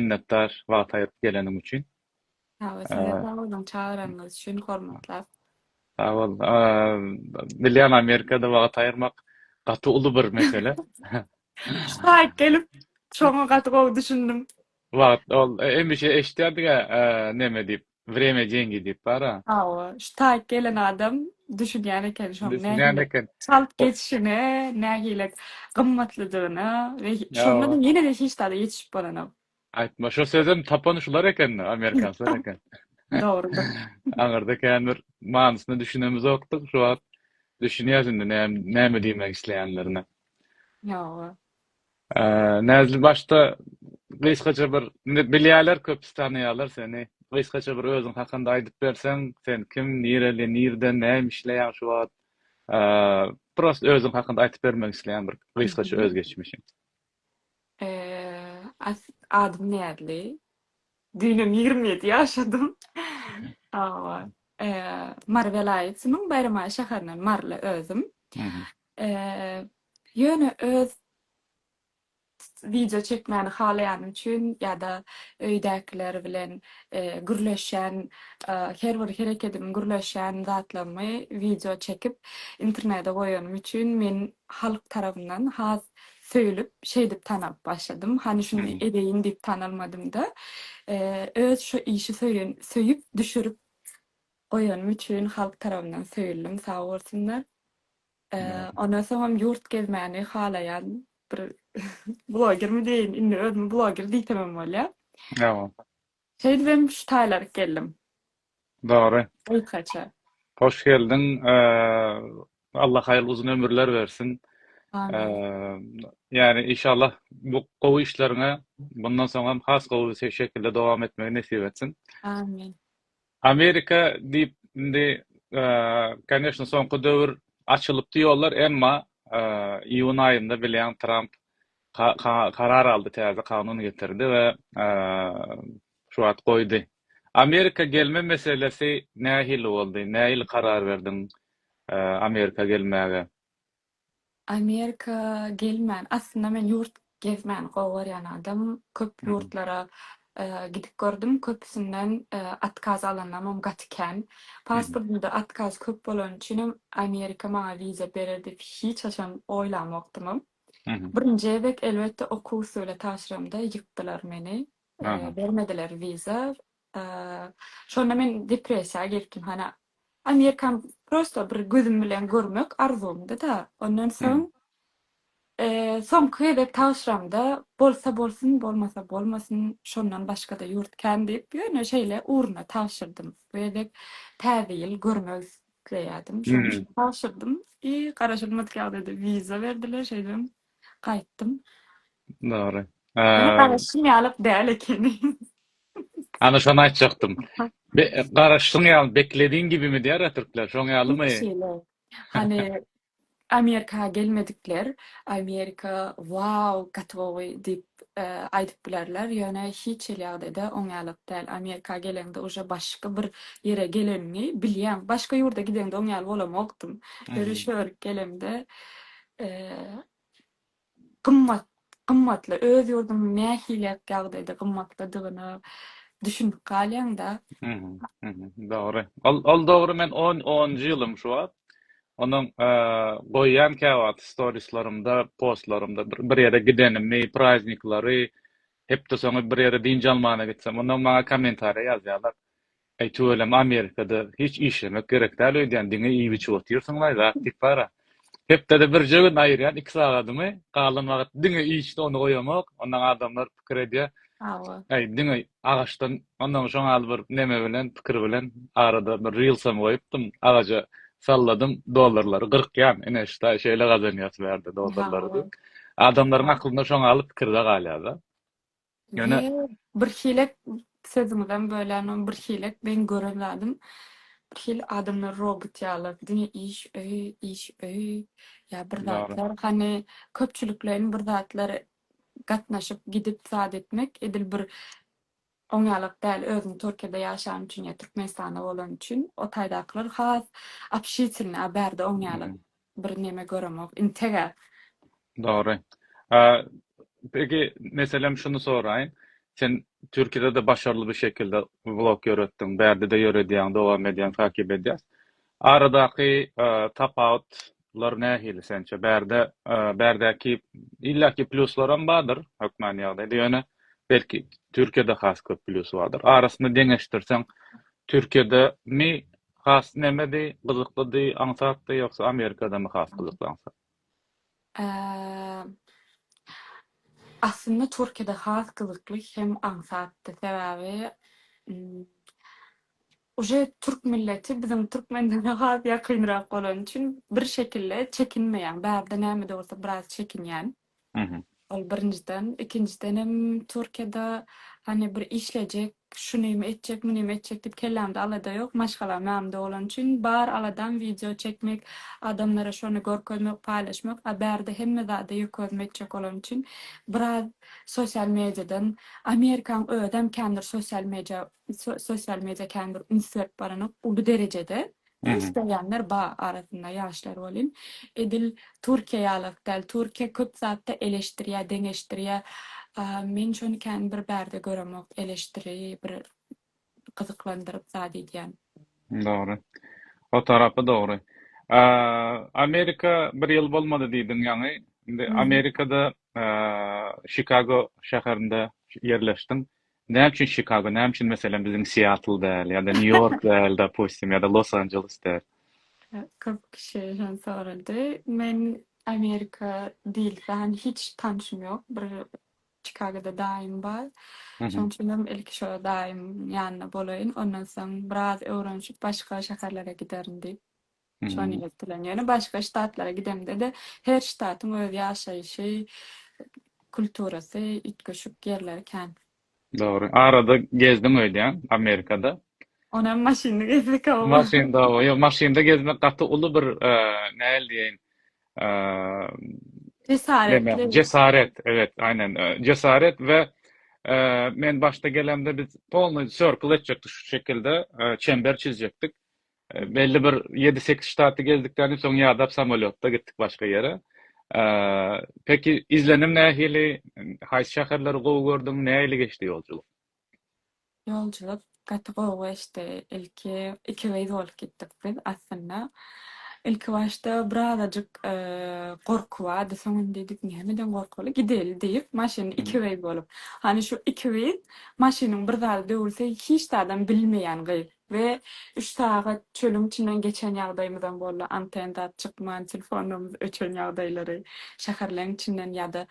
Minnetdar wagt aýyryp geleniň üçin. Hawa size sag boluň çagyranyňyz üçin hormatlar. Sag bol. Bilýän Amerikada wagt aýyrmak gaty uly bir mesele. Şaýyt gelip şoňa gaty gowy düşündim. Wagt ol hemişe eşitýärdiga neme diýip. Wremýa Dengi diýip bar-a. Hawa, şu taýyk gelen adam düşünýän eken şoň Düşünýän nähili eken. çalt O geçişine, nähili gymmatlydygyna we şonda Hawa. ýene-de hiç zada ýetişip bolanok. Aýtma, şo sözem tapan şular eken-de, amerikanslar eken. Dogrudyr. Aňyrda känbir manysyna düşünemizokdyk, şu wagt düşünýäs indi näme näme diýmek isleýänlerine. Hawa. Näzli başda gysgaça bir bilýäler köpüsi tanaýalar seni gysgaça bir özüň hakynda aýdyp berseň sen kim nireli nirde näme işleýäň şu wagt prosta özüň hakynda aýtyp bermek isleýän bir gysgaça öz geçmişiň. Adym Näzli düýnem ýigrimi ýedi ýaşadym hawa Mary welaýatynyň Baýramaý şäherinden Maryly özüm Ýöne öz wideo çekmäni halaýanym üçin ýa-da öýdäkiler bilen gürleşýän her bir herekedim, gürleşýän zatlarymy wideo çekip internede goýanym üçin men halk tarabyndan has söýülip şeýdip tanalyp başladym. Hany şuny edeýin diýip tanalmadym-da. Öz şu işi söýen, söýüp düşürip Goýanym üçin halk tarabyndan söýüldim sag bolsunlar. Ondan soňam ýurt gezmäni halaýan bir blogermi diýeýin, indi özümi bloger diýsemem bolýar. Ýa-a. Şeýdibem şu taýlaryk geldim. Dogry. Gysgaça. Hoş geldiň. Allah haýyrly uzyn ömürler bersin. Amin. Ýani inşallah bu gowy işleriňe bundan soňam has gowy şekilde dowam etmegi nesip etsin. Amin. Amerika diýip indi koneşne soňky döwür açylypdy ýollar emma iýun aýynda bilýäň Tramp karar aldy täze kanun getirdi we şu wagt goýdy. Amerika gelme meselesi nähili boldy nähili karar berdiň Amerika gelmäge? Amerika gelmän, aslynda men ýurt gezmäni gowy görýän adam. Köp ýurtlara gidip gördüm, köpüsinden otkaz alanlarymam gaty kän. Pasportymda otkaz köp bolany üçinem Amerika maňa wiza berer diýip hiç haçan oýlamokdymam. Birinji gezek elbetde okuw usuly tabşyramda ýykdylar meni. Bermediler wiza. Şonda men depressiýa giripdim hany. Amerikan prosto bir gözüm bilen görmek arzuwymdy-da. Ondan soň soňky gezek tabşyramda bolsa bolsun, bolmasa bolmasyn, şondan başga-da ýurt kän diýip, ýöne şeýle ugruna tabşyrdym. Bu gezek täze ýyl görmek isleýärdim. Şonuň üçin tabşyrdym. I garaşylmadyk ýagdaýda wiza berdiler, şeýdibem gaýtdym. Dogry. Ýöne garaşyň ýalyk däl ekeni. Ana şony aýtjakdym. Garaşyň ýaly, beklediň gibimi diýýärä türkler, şoň ýalymy? Hut şeýle. Hany Amerika gelmedikler, Amerika wow, gotowy diýip aýdyp bilerler, ýöne hiç hili ýagdaýda oň ýalyk däl. Amerika geleňde uje başga bir ýere geleniňi bilýäň. Başga ýurda gideňde oň ýaly bolamokdym. Öri-şöri gelemde gymmat, gymmatly, öz ýurduň nähili ýagdaýda gymmatlydygyna düşünip galýaň-da. Dogry. Ol dogry, men onunjy ýylym şu wagt. Onuň goýýan käwagt storislerimde, postlarymda bir ýere gidenimi, prazniklary, hepdesoňy bir ýere dynç almana gitsem, onnoň maňa kommentariýa ýazýarlar. Aý tüweleme Amerikada hiç işlemek gerekdal öýdýän diňe iýip içip otyrsyňlaý zat diýip bara. Hepdede birje gün aýyrýan iki sagadymy galan wagyt diňe işde ony goýamok ondan adamlar pikir edýä aý diňe agaçdan ondan şoň al bir neme bilen pikir bilen arada bir rilsam goýupdym agaja salladym dollarlary gyrkýan ine ştaý şeýle gazanýas bärde dollarlary diýip adamlaryň aklynda şoň al pikirdä galýada. Ýöne birhili sözüňizem bölänok, birhili men gören zadym birhili adamlar robot ýaly diňe iş öý, iş öý ýa bir zatlar hany köpçülikleýin bir zatlar gatnaşyp gidip zat etmek edil bir oňýalak däl özüň Türkiýede ýaşan üçin ýa Türkmenistanda bolan üçin o taýdakylar has obşitelni a bärde oňýalak Bir neme göremok intega. Dogry. Peki meselem şuny soraýyn. Sen Türkiýede-de başarly bir şekilde vlog ýöretdiň. Bärde-de ýöredýäň, dowam edýäň, takip edýäs. Aradaky tapawutlar nähili sençe? Bärde, bärdäki illaki plýuslaram bardyr hökmany ýagdaýda, ýöne belki Türkiýede has köp plýusy bardyr. Arasyny deňeşdirseň, Türkiýedemi Has nämedi gyzyklydy aňsatdy ýogsa amerikadamy has gyzykly aňsat. Eee aslynda türkiýede has gyzykly hem aňsatdy sebäbi uje türk milleti biziň türkmenlere has ýakynrak bolany üçin bir şekilde çekinmeýän bärde nämede bolsa biraz çekinýän. Ol birinjiden, ikinjidenem Türkiýede hany bir işlejek, şunym etjek, munym etjek diýip kellämde alada ýok. Maşgalam ýanymda bolany üçin bar aladam wideo çekmek, adamlara şony görkezmek, paýlaşmak, a bärde hemme zada ýüki özüm etjek bolany üçin biraz sosial mediadan, Amerikanyň özem känbir sosial media sosial media känbir üns berip baranok uly derejede. Indi isleýänler ba arasynda ýaşlar welin edil Türkiýe ýalak däl Türkiýe köp zatda eleşdirýä deňeşdirýä men şony kän bir bärde göremok eleşdiri bir gyzyklandyryp zat edýän. Dogry. O tarapy dogry. Amerika bir ýyl bolmady diýdiň ýaňy. Indi Amerikada Şikago şäherinde ýerleşdiň. Näme üçin Çikago, näme üçin meselem biziň Seattle däl ýa-da New York däl dopustim ýa-da Los Anjeles däl? Köp kişi hem sorady. Men Amerika dilsän hiç tanşym ýok. Bir Çikagoda daýym bar. Şoň üçin hem ilki şo daýymyň ýanynda bolaýyn, ondan soň biraz öwrenişip başga şäherlere giderin diýip. Şony ýeňip bilen. Ýöne başga ştatlara gidemde-de, her ştatyň öz ýaşaýşy, kulturasy, üýtgeşik ýerleri kän. Dogry. Arada gezdiň öýdýän, Amerikada. Onam maşynly gezdik, hawa. Maşynda, hawa. Ýok, maşynda gezmek gaty uly bir, nähili diýeýin, Jesaretli. Jesaret, ebet, aýnan, jesaret we men başda gelemde biz polny sirkl etjekdik şu şekilde, çember çizjekdik. Belli bir ýedi-sekiz ştaty gezdikden soň ýadap samolýotda gitdik başga ýere. Peki izlenim nähili? Haýsy şäherleri gowy gördüň? Nähili geçdi ýolculuk? Ýolculuk gaty gowy geçdi. Ilki iki gyz bolup gitdik biz. Aslynda ilkibaşda birazajyk gorky bardy. Soň indi diýdik nämeden gorkaly gideli diýip maşyny iki gyz bolup. Hany şu iki gyz maşynyň bir zady döwülse hiç zadam bilmeýän gyz. We üç sagat çölüň içinden geçen ýagdaýymyzam boldy, anten zat çykman, telefonlarymyz öçen ýagdaýlary, şäherleň içinden ýa-da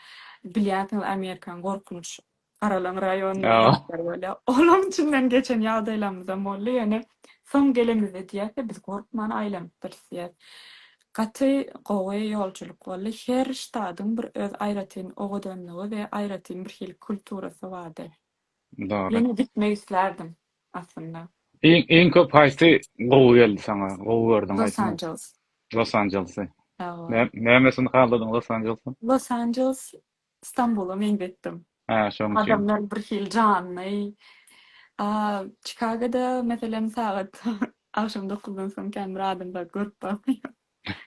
bilýänsiňiz Amerikanyň gorkunç garalaň raýonynda zatlar bolýar, olaň içinden geçen ýagdaýlarymyzam boldy, ýöne soň gelenimizde diýýäs-de biz gorkman aýlanypdyrys diýýäs. Gaty gowy ýoljulyk boldy, her ştadyň bir öz aýratyn owadanlygy we aýratyn birhili kulturasy bardy. Dogry. Ýene gitmek islärdim aslynda. Iň iň köp haýsy gowy geldi saňa? Gowy gördüň Los haýsyny? Angeles. Los Angelesy. Hawa. Nä nämesini haladyň Los Angelesiň? Los Angeles Stambula meňzetdim. Hä, şoň üçin. Adamlar birhili janly. A Çikagoda meselem sagat agşam dokuzdan soň kän bir adam bar görüp barmaýaryn.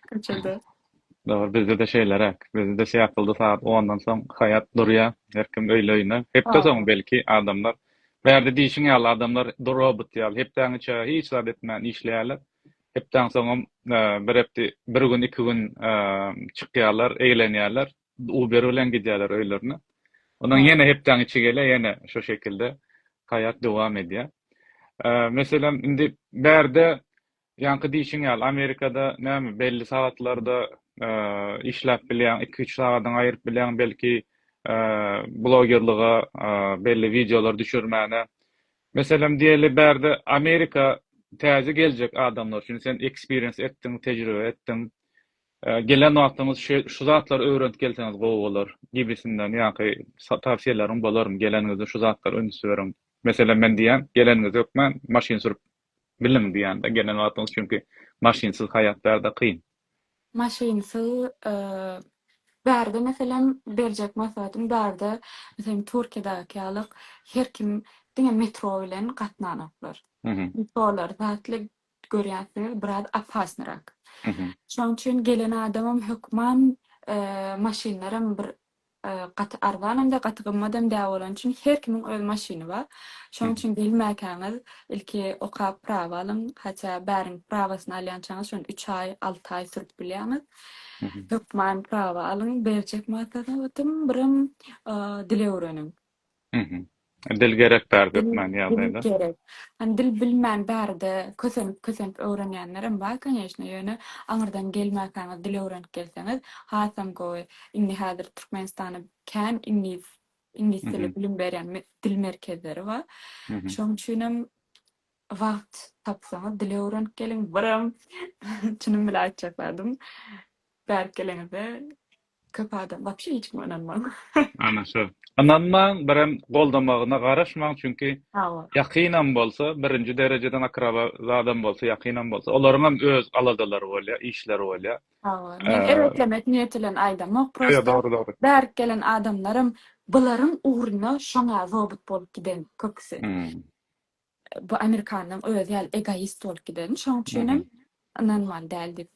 köçede. Dogry, bizde-de şeýleräk. Bizde-de syýatlyldy sagat ondan soň haýat durýar, her kim öýli-öýüne. Hepde soňy belki adamlar, bärde diýşiň ýaly adamlar robot ýaly hepdäniň içi hiç zat etmän işleýärler. Hepdäniň soňam bir hepde, bir gün, iki gün çykýarlar, eglenýärler, Uber bilen gidýärler öýlerine. Ondan ýene hepdäniň içi gelýär, ýene şu şekilde haýat dowam edýär. Meselem, indi bärde Ýaňky diýşiň ýaly, Amerikada näme, belli sagatlarda işläp bilýäň, iki-üç sagadyňy aýyryp bilýäň belki blogerlige, belli wideolar düşürmäne. Meselem, diýeli, bärde Amerika täze geljek adamlar üçin, sen ekspiriýens etdiň, tejribe etdiň, gelen wagtyňyz şu zatlary öwrenip gelseňiz gowy bolar gibisinden ýaňky tawsiýeleriň bolarmy, geleniňizde şu zatlara üns beriň. Meselem, men diýýän, geleniňiz hökman maşyn sürüp Biliň diýanda gelen wagtyňyz çünki maşynsyz haýat bärde kyn. Maşynsyz bärde meselem berjek maslahatym bärde meselem Türkiýedäki ýaly her kim diňe metro bilen gatnanoklar. Metrolar zatly görýänsiňiz biraz opasnyrak. Şonuň üçin gelen adamam hökman maşynlaram bir Gaty arzanam-da, gaty gymmadam däl bolany üçin her kimiň öz maşyny bar. Şonuň üçin gelmäkäňiz ilki okap prawa alyň. Hatça bäriň prawasyny alýançaňyz şony üç aý, alty aý sürüp bilýäňiz. Hökman prawa alyň, berjek maslahatym birem dil öwreniň. Dil gerek bary türkmen ýagdaýda. Gerek. Hani dil bilmän bärde kösenip kösenip öwrenýänlerem bar koneşne ýöne aňyrdan gelmäkäňiz dil öwrenip gelseňiz hasam gowy. Indi häzir Türkmenistanda kän iňlis iňlis dili bilim berýän dil merkezleri bar. Şoň üçinem wagt tapsaňyz dil öwrenip geliň. Biram çynym bilen aýtjakladym. Bärik geleňizde Köp adam wapşe hiç kime ynanmaň. Ana şo. Ynanmaň, birem goldamagyna garaşmaň, çünki ýakynam bolsa, birinji derejeden akraba zadam bolsa, ýakynam bolsa, olaryňam öz aladalary bolýar, işleri bolýar. Hawa, men erbetlemek niýeti bilen aýdamok, prosta bärik gelen adamlaram bularyň ugruna şoňa zobut bolup giden köpüsi. Bu amerikanyň özi ýaly egoist bolup gideni, şoň üçinem ynanmaly däl diýip.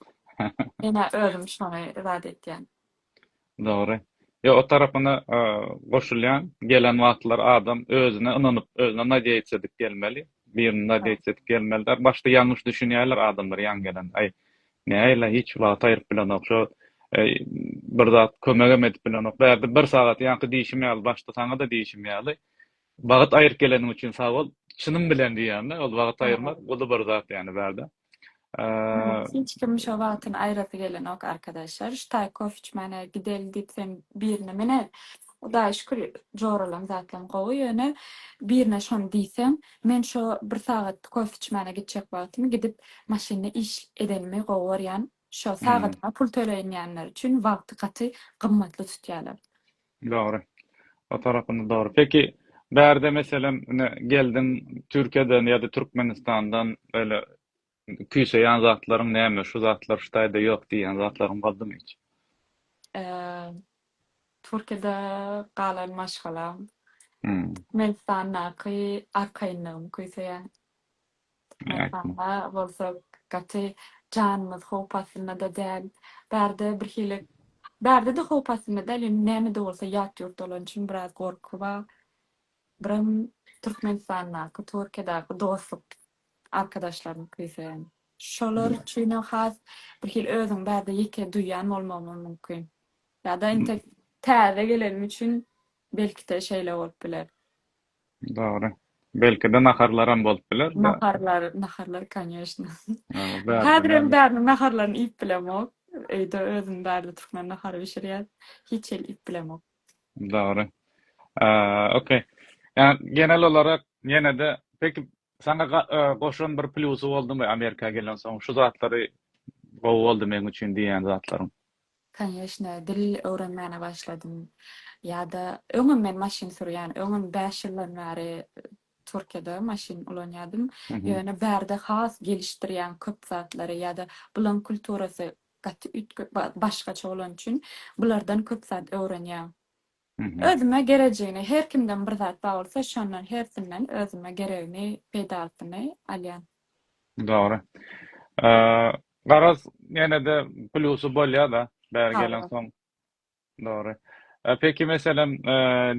Men-ä özüm şony zat etýän. Dogry. Ýok, o tarapyna goşulýan. Gelen wagtlary adam özüne ynanyp, özüne nadýaýça edip gelmeli. Birini nadýaýça edip gelmeli däl. Başda ýalňyş düşünýärler adamlar ýaňy gelen. Aý, näýla, hiç wagty aýryp bilenok. Şo bir zat kömegem edip bilenok. Bärde bir sagat ýaňky diýşim ýaly, başda saňa-da diýşim ýaly. Wagyt aýyryp geleniň üçin sag bol. Çynym bilen diýýän-de, ol wagyt aýyrmak uly bir zat ýany bärde. Hiç kim şo wagtyny aýyrasy gelenok arkadaşlar. Şu taý kofe içmäne gideli diýsem birine menä Hudaýa şükür joralan zatlam gowy ýöne birine şony diýsem men şo bir sagat kofe içmäne gitjek wagtymy gidip maşynda iş edenimi gowy görýän Şo sagadyna pul töleýinýänler üçin wagty gaty gymmatly tutýalar. Dogry. O tarapynda dogry. Peki, bärde meselem ine geldiň Türkiýeden ýa-da Türkmenistandan böyle küýseýän zatlaryň näme, şu zatlar Hytaýda ýok diýýän zatlaryň boldumy hiç? Eee, Türkiýede galan maşgalam, Türkmenistandaky arkaýynlygym küýseýär. Mähribanlara bolsa gaty janymyz howp astynda-da däl. Bärde birhili, bärde-de howp astynda däl, ýöne näme-de bolsa ýat ýurtda bolany üçin biraz gorky bar. Birem Türkmenistandaky, Türkiýedäki dostluk arkadaşlarymyz küýseýän. Şolar üçinem has birhili özüňi bärde ýeke duýýan bolmagymam mümkin. Ýa-da entek täze gelenim üçin belki-de şeýle bolup biler. Dogry. Belki-de naharlaram bolup biler-de. Naharlar, naharlar koneşna. Häzir hem bäriniň naharlaryny iýip bilemok. Öýde özüm bärde türkmen nahary bişirýär. Hiç hili iýip bilemok. Dogry. Okey. Ýa genel olarak ýene-de peki Saňa goşan bir plýusy boldumy Amerika gelensoň şu zatlary gowy boldy meň üçin diýýän zatlaryň? Kanýeşne dil öwrenmäne başladym. Ýada öňem men maşyn sürýän. Öňem bäş ýyldan bäri Türkiýede maşyn ulanýadym. Ýöne bärde has gelişdirýän köp zatlary ýada bulaň kulturasy gaty üýtge başgaça bolany üçin bulardan köp zat öwrenýän. Özüme gerejigini, her kimden bir zat bar bolsa şondan hersinden özüme geregini, peýdalysyny alýan. Dogry. Garaz ýenede plusy bolýada bäri gelensoň. Dogry. Peki meselem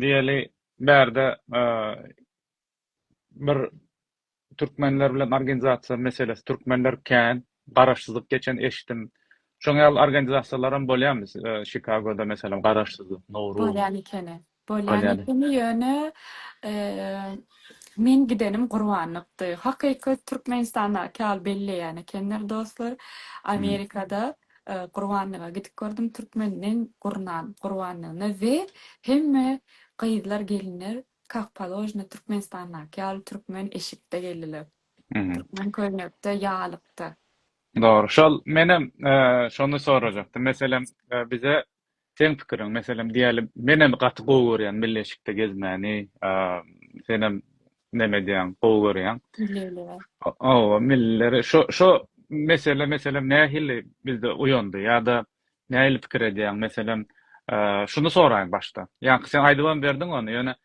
diýeli bärde bir türkmenler bilen organizasiýa meselesi türkmenler kän garaşsyzlyk geçen eşitdim şoň ýaly organizasiýalaram bolýamy şikagoda meselem garaşsyzlyk nowruz bolýan ekeni bolýan ekeni ýöne men gidenim gurbanlykdy hakyky türkmenistandaky ýaly belleýän ekenler dostlar amerikada gurbanlyga gidip gördüm türkmenden gurnan gurbanlygyna we hemme gyzlar gelinler Kak položno Türkmenistandaky ýaly türkmen eşikde geldiler. Türkmen köýnekde ýalykda. Dogry şol menem şony sorajakdym meselem bize seň pikiriň meselem diýeli menem gaty gowy görýän milli eşikde gezmäni senem neme edýäň gowy görýäň owa millileri şo şo mesele meselem nähili bizde uýandy ýada Nähili pikir edýäň? Meselem, şuny soraýyn başda. Ýaňky sen aýdybam berdiň ony, ýöne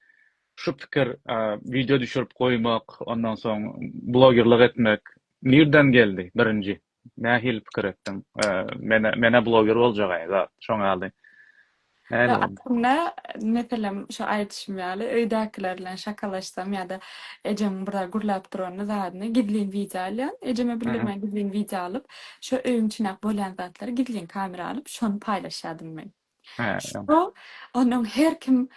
şu pikir wideo düşürip goýmak, ondan soň blogerlik etmek nirden geldi birinji? Nähili pikir etdiň? Men-ä bloger boljagaý zat, şoňa ýaly. Ýa aslynda, meselem, şu aýdyşym ýaly, öýdäkiler bilen şakalaşsam ýa-da ejeň bir zat gürläp duranda zadyny gizlin wideo alýan. Ejeme bildirmän gizlin wideo alyp, şo öýüň içindäki bolýan zatlary gizlin kamera alyp, şony paýlaşýardym men. Şo onuň her kim,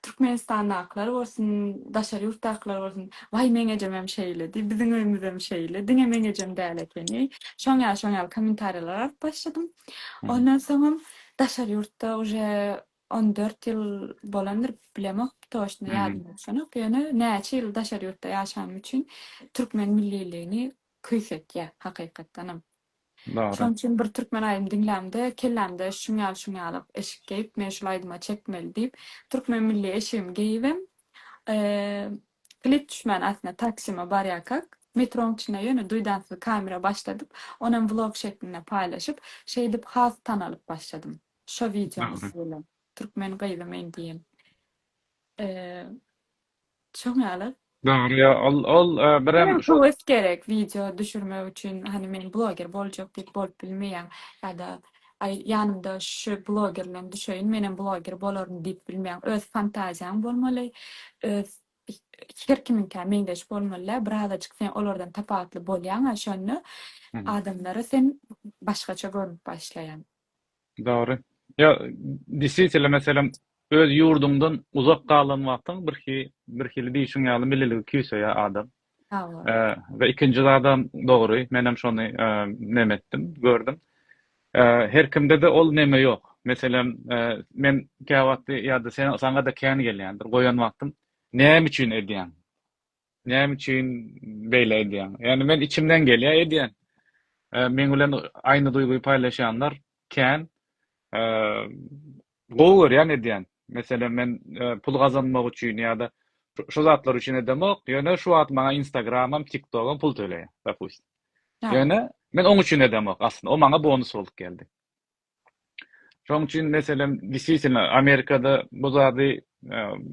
Türkmenistandakylar bolsun, daşary ýurtdakylar bolsun, Waý, meň ejem hem şeýledi, biziň öýümiz hem şeýle, diňe meň ejem däl ekeni. Şoň ýaly, şoň ýaly kommentariýalar alyp başladym. Ondan soňam Daşary ýurtda uje on dört ýyl bolandyr, bilemok, toçno ýadymda düşenok, ýöne näçe ýyl daşary ýurtda ýaşanym üçin türkmen milliligini küýsetýär, hakykatdanam. Şonuň üçin bir türkmen aýdym diňlämde, kellämde şuň ýaly şuň ýaly eşik geýip, men şul aýdyma çekmeli diýip, türkmen milli eşigimi geýibem, Klip düşmän aslynda Taksyma barýarkak metroň içinde ýöne duýdansyz kamera başladyp, onam vlog şeklinde paýlaşyp, şeýdip has tanalyp başladym. Şo wideomyz bilen. Türkmen gyzy men diýen. Şoň ýaly. Dogry ýa ol ol birem Birem höwes gerek wideo düşürmek üçin hany men bloger boljak diýip bolup bilmeýäň ýa-da Aý, ýanymda şu bloger bilen düşeýin, menem bloger bolaryn diýip bilmeýäň. Öz fantaziýaň bolmaly, öz her kimiňkä meňzeş bolmaly-da, birazajyk sen olardan tapawutly bolýaň-a, şonda adamlara sen başgaça görnüp başlaýaň. Dogry. Ýa, deswitele, meselem, öz ýurduňdan uzak galan wagtyň birhi, birhili diýşiň ýaly milliligi küýseýär adam. we ikinji zadam dogry menem şony neme etdim gördüm her kimdede ol neme ýok meselem men käwagtdy ýa-da sen saňada kän gelýändir goýan wagtym näme üçin edýäň näme üçin beýle edýäň ýagny men içimden gelýä edýän meň bilen aýny duýgy paýlaşýanlar kän Gowy görýän edýän. Meselem men pul gazanmak üçin ýa-da şo zatlar üçin edemok, ýöne şu wagt maňa Instagramam, TikTogam pul töleýär, dopustim. Ýöne men oň üçin edemok aslynda, o maňa bonus bolup geldi. Şoň üçin meselem deswitino Amerikada bu zady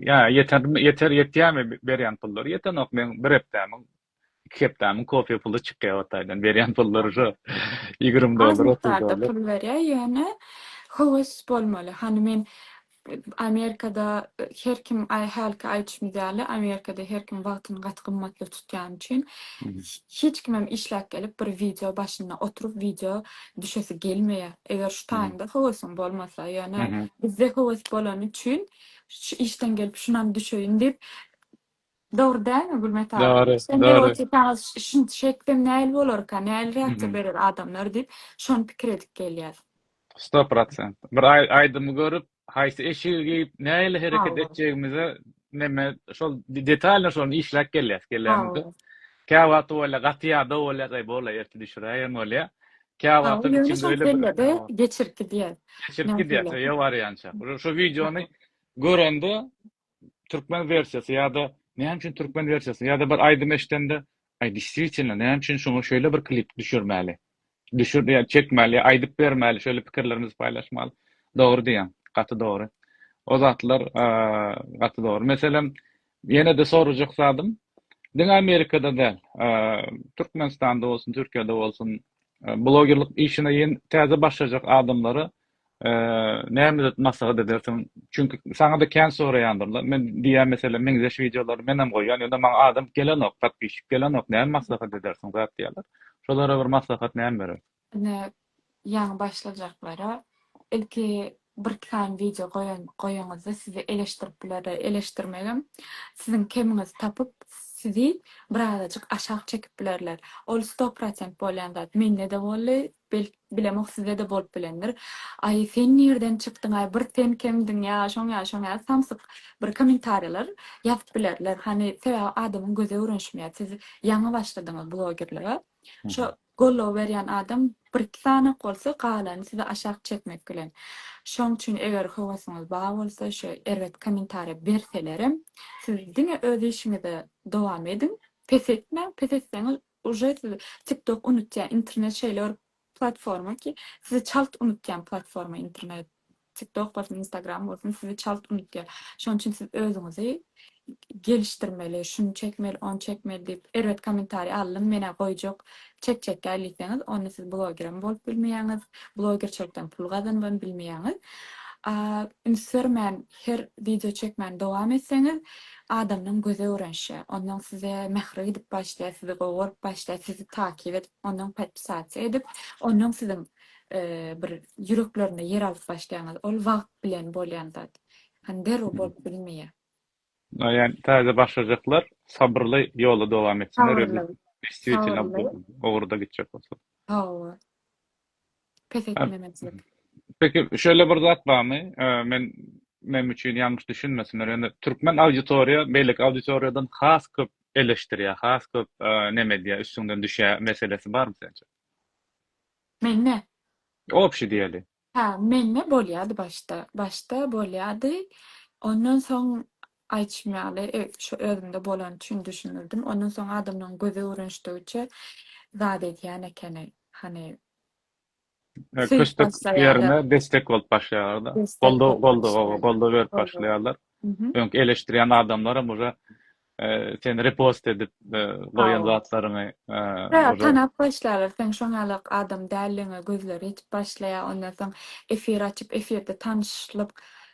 ýa ýetermi ýeter ýetýärmi berýän pullary ýetenok meň bir hepdämiň iki hepdämiň kofe puly çykýar Hytaýdan. Berýän pullary şo ýigrimi dollar, otuz dollar. Az mukdarda pul berýär, ýöne höwes bolmaly. Hany men Amerikada her kim hälki aýdyşymyz ýaly Amerikada her kim wagtyny gaty gymmatly tutýany üçin hiç kimem işläp gelip bir wideo başynda oturyp wideo düşesi gelmeýär. Eger şu taýyňda höwesiň bolmasa, ýöne bizde höwes bolany üçin şu işden gelip şunam düşeýin diýip Dogry dälmi Gülmet aga? Dogry, Sen diýip dogry. otursaňyz ş- şunça şey etsem näl bolarka, näl reaksiýa Mhm. berer adamlar diýip şony pikir edip gelýär. Sto prosent. Bir aý- aýdymy görüp, haýsy eşigi geýip, nähili hereket Hawa. etjegimize neme şol de- detalno şony işläp gelýäs. Gelýämizde. Hawa. Käwagty bolýar, gaty ýada bolýar, eý bol-a ertir düşüräýerin bolýar. Hawa, Käwagtam ýöne içimde şol öýle bir kellede hawa. geçirip gidýär. Geçirip gidýär, Nähili? öýe barýança. Şu şu wideony görende Türkmen wersiýasy ýa-da näme üçin türkmen wersiýasyny ýa-da bir aýdym eşidende, aý deswitielno näme üçin şuňa şeýle bir klip düşürmäli, düşür ýa çekmäli ýa aýdyp bermäli şeýle pikirlerimizi paýlaşmaly. Dogry diýýäň, gaty dogry. O zatlar gaty dogry. Meselem, ýene-de sorajak zadym, diňe Amerikada däl, Türkmenistanda bolsun, Türkiýede bolsun, blogerlik işine ýen täze başlajak adamlara Näme zat maslahat edersiň? Çünki saňa-da kän soraýandyrlar. Men diýýän meselem meňzeş wideolary menem goýýan, ýöne maňa adam gelenok, podpisçik gelenok. Näme maslahat edersiň zat diýýärler. Şolara bir maslahat näme berersiň? Ine, ýaňy başlajaklara ilki bir sany wideo goýan goýaňyzda sizi eleşdirip bilerler. Eleşdirmegem siziň kemiňizi tapyp, sizi birazajyk aşak çekip bilerler. Ol sto prosent bolýan zat. Mende-de boldy, Belki, bilemok, size-de bolup bilendir. Aý, sen nirden çykdyň-aý, bir sen kemdiň, ýa şoň-ýa şoň-ýa samsyk bir kommentariýalar ýazyp bilerler. Hany, sebäbi adamyň gözi öwrenişmeýär. Siz ýaňy başladyňyz blogerlige. Şo goldaw berýän adam bir-iki sany-ak bolsa, galany sizi aşak çekmek bilen. Şoň üçin eger höwesiňiz bar bolsa, şo erbet kommentariýa berselerem, siz diňe öz işiňizi dowam ediň, pes etmäň, pes etseňiz, Uje sizi tiktok unutýa internet şeýle bir platforma ki sizi çalt unutýan platforma internet tiktok bolsun instagram bolsun sizi çalt unutýa şonuň üçin siz özüňizi gelişdirmeli şuny çekmeli ony çekmeli diýip erbet kommentariý aldym menä goýjak çekjekgä diýseňiz onda siz blogerem bolup bilmeýäňiz blogerçilikden pul gazanyban bilmeýäňiz üns bermän Her wideo çekmäni dowam etseňiz, adamlaň gözi öwrenişýär. Onlaň size mähri gidip başlaýar, sizi gowy görüp başlaýar, sizi takip edip, onlaň podpisasiýa edip, onlaň siziň bir ýüreklerinde ýer alyp başlaýaňyz. Ol wagt bilen bolýan zat. Hany derrew bolup bilmeýär. Ýani täze başlajaklar sabyrly ýoly dowam etsinler. Sabyrly. Destwitino bu ugurda gitjek bolsa. Hawa. pes etmemezlik. Peki şeýle bir zat barmy? Men meniň üçin ýalňyş düşünmesinler. Ýöne türkmen auditoriýa beýleki auditoriýadan has köp eleşdirýär, has köp neme edýär, üstüňden düşýär meselesi barmy sence? Mende? Obşi diýeli. Hä, mende bolýardy başda. Başda bolýardy. Ondan soň Aýtşym ýaly, şu özümde bolany üçin düşündirdim. Ondan soň adamlaryň gözi öwrenişdigiçe zat edýän ekeni. Hany, söýüp Köstek başlaýarlar. ýerine destek bolup başlaýarlar-da. Destek Goldaw, bolup goldaw, oba, başlaýarlar. goldaw berip Goldaw. başlaýarlar. Mhm. Öňki eleşdirýän adamlaram uje e, seni repost edip e, goýan Hawa. zatlaryňy e, Tä, uje tanap başlaýarlar. Seň şoň ýaly adam däldigiňe gözleri ýetip başlaýar. Ondan soň efir açyp, efirde tanyşlyk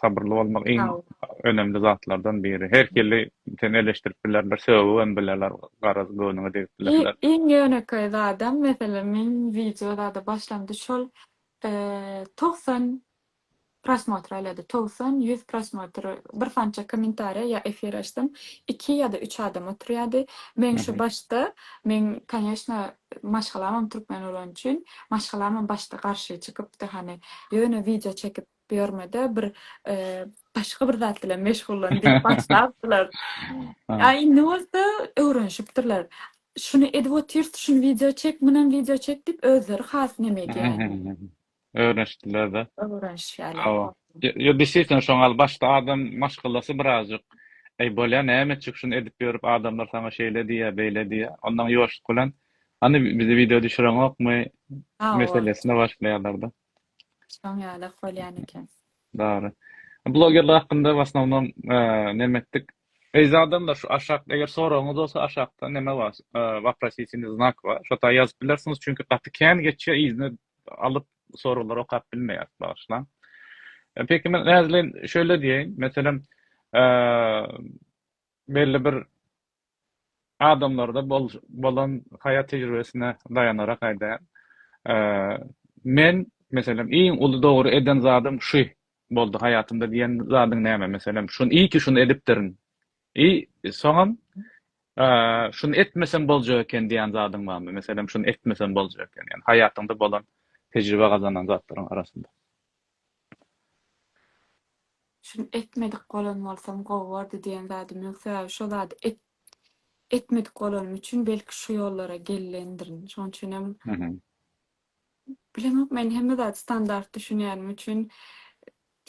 Sabyrly bolmak iň önemli zatlardan biri. Her hili seni eleşdirip bilerler, sögübem bilerler, garaz göwnüňe degip bilerler. Iň ýönekeý zadam, meselem, men wideo zada başlamda şol togsan prosmotr aýlady, togsan, ýüz prosmotr, birsança kommentariýa ýa efir açsam, iki ýa-da üç adam oturýardy. Men şu başda, meň, konýeçno, maşgalamam türkmen bolany üçin, maşgalamam başda garşy çykypdy, hany, ýöne wideo çekip Bu ýörmede bir başga bir zat bilen meşgullan diýip başlapdylar. A indi bolsa öwrenişipdirler. Şuny edip otyrs, şuny wideo çek, munam wideo çek diýip özleri has neme edýärler. Öwrenişdiler-de. Öwrenişýärler. Hawa. Ýo desisem şoň al başda adam maşgalasy birazjyk Eý bolýa näme etjek şuny edip ýörüp adamlar saňa şeýle diýýä beýle diýýä ondan ýuwaşlyk bilen hany bize wideo düşüreňokmy meselesine başlaýarlar-da. Şoň ýalak bolýan eken. Dary. Blogerler hakynda w asnownom neme etdik. Eýzi adamlar şu aşak eger soragyňyz bolsa aşakda neme bar waprosisyny znak bar şota ýazyp bilersiňiz çünki gaty kän geçýär yzyny alyp soraglary okap bilmeýäs bagyşlaň. Peki men näzleýin şöyle diýeýin meselem belli bir adamlarda bolan haýat tejribesine daýanarak aýdaýan. Men, meselem, iň uly dogry eden zadym şü boldy haýatymda diýen zadyň näme? Meselem, şuny, iyi ki şuny edipdirin. I, soňam, şuny etmesem boljak eken diýen zadyň barmy? Meselem, şuny etmesem boljak eken. Ýani haýatyňda bolan tejribe gazanan zatlaryň arasynda. Şuny etmedik bolan bolsam gowy bordy diýen zadym ýok sebäbi şo zady et etmedik bolanym üçin belki şu ýollara gellendirin şoň üçinem Mhm. bilemok men hemme zady standart düşünýänim üçin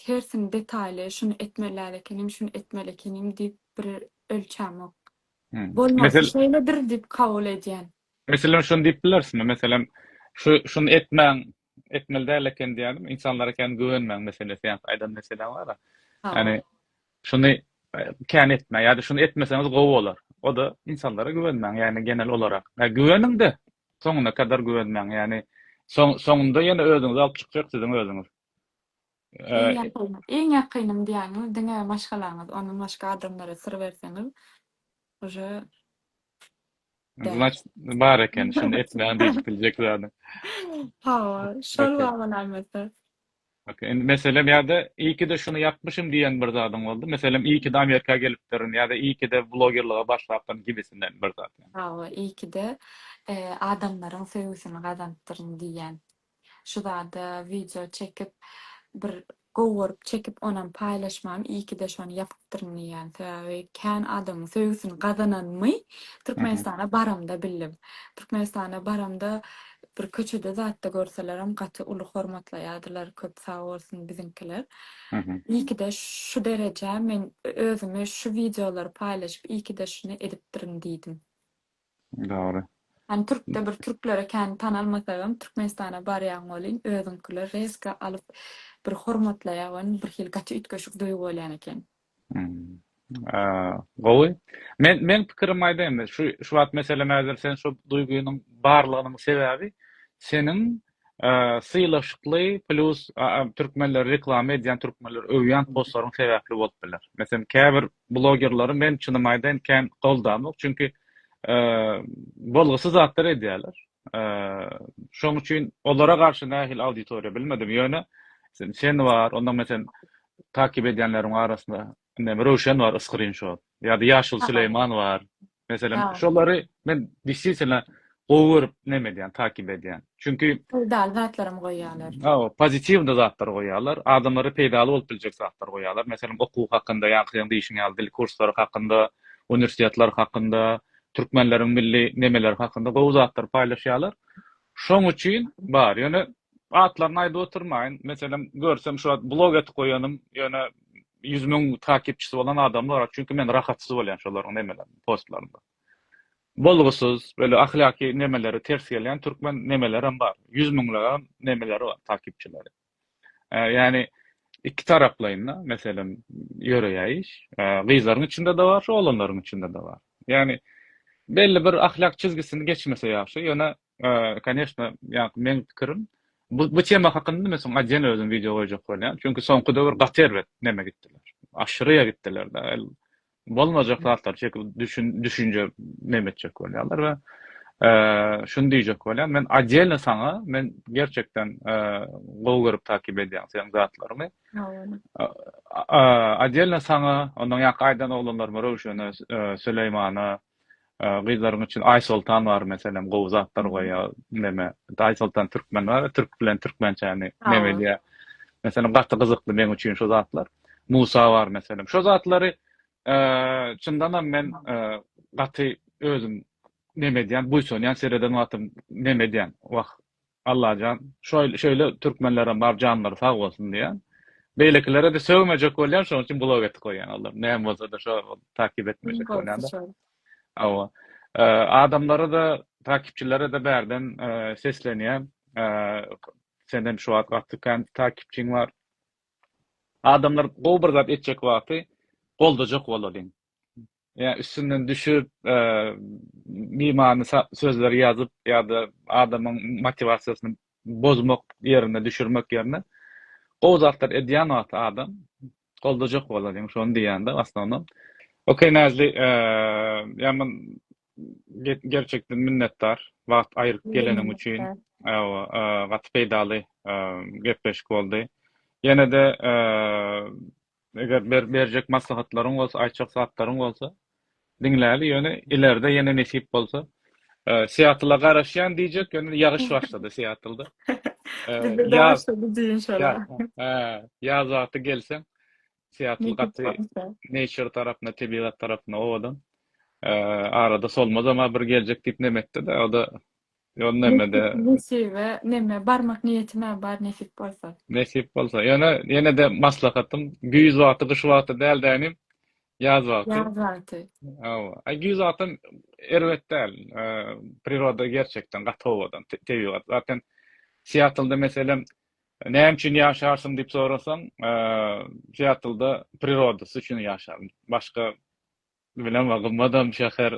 hersini detaýly şuny etmelär ekenim şuny etmeli ekenim diýip bir ölçämok Mhm. bolmasy Mesel şeýledir diýip kabul edýän. meselem şuny diýip bilerismi meselem şu şuny etmäň etmeli däl eken diýýärdim. Ynsanlara kän güwenmäň meselesi ýa-da aýdan meseläň bar-a. Ýagny şuny kän etmäň ýa-da şuny etmeseňiz gowy bolar. O-da ynsanlara güwenmäň, ýagny genel olarak. Ýa güweniň-de, soňuna kadar güwenmäň. Ýagny soňunda ýene özüňizi alyp çykjak siziň özüňiz. Iň ýakyn, iň ýakynym diýýäňiz diňe maşgalaňyz, ondan başga adamlara syr berseňiz uje däl. Znaçt bar eken şuny etmäň diýip biljek zady. Hawa, şol Okey. baba nämedir. Okey. Indi meselem ýa-da iyi ki de şuny ýapmyşym diýen bir zadyň boldy? Meselem iyi ki de Amerika gelipdirin ýa-da iyi ki de blogerlige başlapdyryn gibisinden bir zat ýa. Hawa, iyi ki de eee adamlaryň söýgüsini gazanypdyryn diýýän. Şu zada wideo çekip bir gowy görüp çekip onam paýlaşmam iyikide şony ýapypdyryn diýýän sebäbi kän adamyň söýgüsini gazananymy Türkmenistana baramda bildim. Türkmenistana baramda bir köçede zatda görselerim gaty uly hormatlaýadylar köp sag bolsun biziňkiler. Iyikide şu derejä men özümi şu wideolary paýlaşyp iyikide şuny edipdirin diýdim. Dogry. Hany türkde bir türklere kän tanalmasagam türkmenistana barýaň welin özüňkiler reska alyp bir hormatlaýar we bir hili gaty üýtgeşik duýgy bolýan eken. Gowy. Men men pikirimi aýdaýyn. Şu şu wagt meselem häzir sen şu duýgynyň barlygynyň sebäbi seniň sylaşykly plus türkmenleri reklama edýän türkmenleri öwýän postlaryň sebäpli bolup biler. Meselem käbir blogerleri men çynymy aýdaýyn kän goldanok çünki bolgusyz zatlar edýärler. Şoň üçin olara garşy nähili auditoriýa bilmedim ýöne sen bar ondan meselem takip edýänleriň arasynda Indem Röwşen bar Skrinşot. Ýa-da Ýaşuly Süleýman bar. Meselem şolary men desisitna gowy görüp neme edýän takip edýän. Çünki peýdaly zatlaram goýýalar. Hawa pozitiwny zatlar goýýalar. Adamlara peýdaly bolup biljek zatlar goýýalar. Meselem okuw hakynda ýaňky seň diýşiň ýaly dil kurslary hakynda, uniwersitetler hakynda, türkmenleriň milli nemeleri hakynda gowy zatlar paýlaşýalar. Şoň üçin bar. Ýöne Atlaryny aýdyp oturmaýyn. Meselem, görsem şu wagt blog edip goýanym, ýöne ýüz müň takipçisi bolan adamlar, çünki men rahatsyz bolýan şolaryň nemelerine, postlaryna. Bolgusyz, böyle ahlaki nemeleri ters gelýän türkmen nemelerem bar. Ýüz müňlegem nemeleri bar, takipçileri. Ýagny iki taraplaýyn-da, meselem, ýöreýär iş. Gyzlaryň içinde-de bar, şu oglanlaryň içinde-de bar. Ýagny belli bir ahlak çizgisini geçmese ýagşy, ýöne Koneşna, ýaňky meň pikirim, bu bu tema hakynda men soň ajen özüm wideo goýjak bolýan. Çünki soňky döwür gaty erbet neme gitdiler. Aşyryýa gitdiler-de. Bolmajak zatlar çekip düşün düşünje neme etjek bolýarlar we şuny diýjek bolýan, men ajelni saňa men gerçekden gowy görüp takyp edýän seniň zatlaryňy. Ajelni saňa, ondan ýaňky aýdan oglanlaryma Röwşene, Süleýmana, Gyzlaryň üçin Aýsoltan bar meselem gowy zatlar goýýar neme Aýsoltan türkmen bar türk bilen türkmençäni neme edýär meselem gaty gyzykly meň üçin şu zatlar Musa bar meselem şu zatlary çyndanam men gaty özüm neme edýän buýsanýan sereden wagtym neme edýän wah Allajan şoýl şeýle türkmenlerem bar janlary sag bolsun diýýän. Beýlekilere-de sögmejek bolýan şoň üçin blog etip goýýan olar. Näme bolsa-da şo takip etmejek bolýan. Hawa. Adamlara-da takipçilere-de bärden seslenýän. Sen hem şu wagt gaty kän takipçiň bar. Adamlar gowy bir zat etjek wagty goldajak bolalyň. ýa üstünden düşüp, bimany sözleri ýazyp ýa-da adamyň motiwasiýasyny bozmak ýerine, düşürmek ýerine gowy zatlar edýän wagty adam goldajak bolar diýen şony diýýän-de wasnonom. Ok Näzli, ýa men gerçekden minnetdar wagt aýryp geleniň üçin. Hawa, gaty peýdaly gepleşik boldy. Ýene-de Eger berjek maslahatlaryň bolsa, aýtjak zatlaryň bolsa, diňläli, ýöne ileride ýene nesip bolsa, Seattle-a garaşýan diýjek, ýöne ýagyş başlady Seattle-da. Ýaz wagty gelseň, Seattle gaty nature tarapynda, tebigat tarapynda owadan. Arada solmaz ama bir geljek diýip nem etdi-de, o-da Ýol nemede. Nesibe neme barmak niýetimä bar nesip bolsa. Nesip bolsa. Ýöne ýenede maslahatym güýz wagty gyş wagty dälde inim ýaz wagty. Ýaz wagty. Hawa. Aý güýz wagtam erbet däl. Priroda gerçekden gaty owadan tebigat. Zaten Siatlda meselem näme üçin ýaşarsyň diýip sorasaň Siatlda prirodasy üçin ýaşaryn. Başga Bilemok gymmadam şäher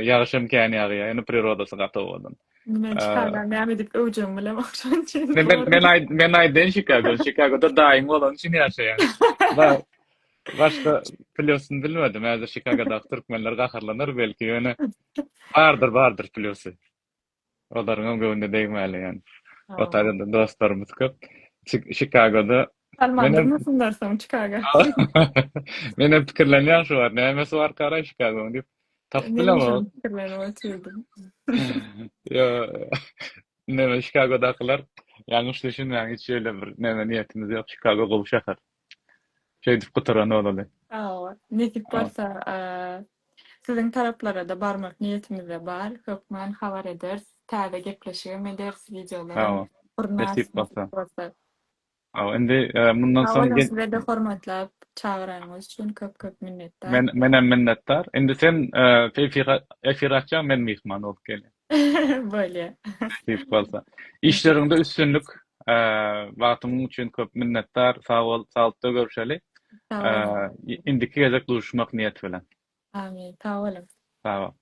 ýagyşam kän ýagýar ýöne prirodasy gaty owadan. Men Çikagany näme diýip öwjegimi bilemok şonuň üçin. Men men aýdaýyn Çikago Çikagoda daýyň bolany üçin ýaşaýan. Başga plýusyny bilmedim häzir Çikagodaky türkmenler gaharlanar belki ýöne bardyr bardyr plýusy. Olaryňam göwnüne degmäli ýan. Otaryňda dostlarymyz köp. Çikagoda. Sallandyrmasynlar soň Çikaga. Menem pikirlenýän şu wagt nämesi barkara Çikagoň diýip. Tapyp bilemok. Pikirlenip oturdym. Ýo neme Çikagodakylar ýalňyş düşünmäň hiç ýöne bir neme niýetimiz ýok Çikago gowy şäher. Şeýdip gutaran olaly. Sag bol. Nesip bolsa siziň taraplarada barmak niýetimizde bar. Hökman habar ederis. Täze gepleşigem ederis, wideolarym gurnar nesip bolsa. Hawa indi mundan soň. Sag boluň sizede hormatlap çagyranyňyz üçin köp köp minnetdar. Menem minnetdar. Indi sen efir açýaň men myhman bolup gelýän. Bolýa. Nesip bolsa. Işleriňde üstünlik. Wagtyň üçin köp minnetdar. Sag bol, saglyklda görüşeli. Indiki gezek duşmak niýeti bilen. Amin. Sag boluň. Sag bol.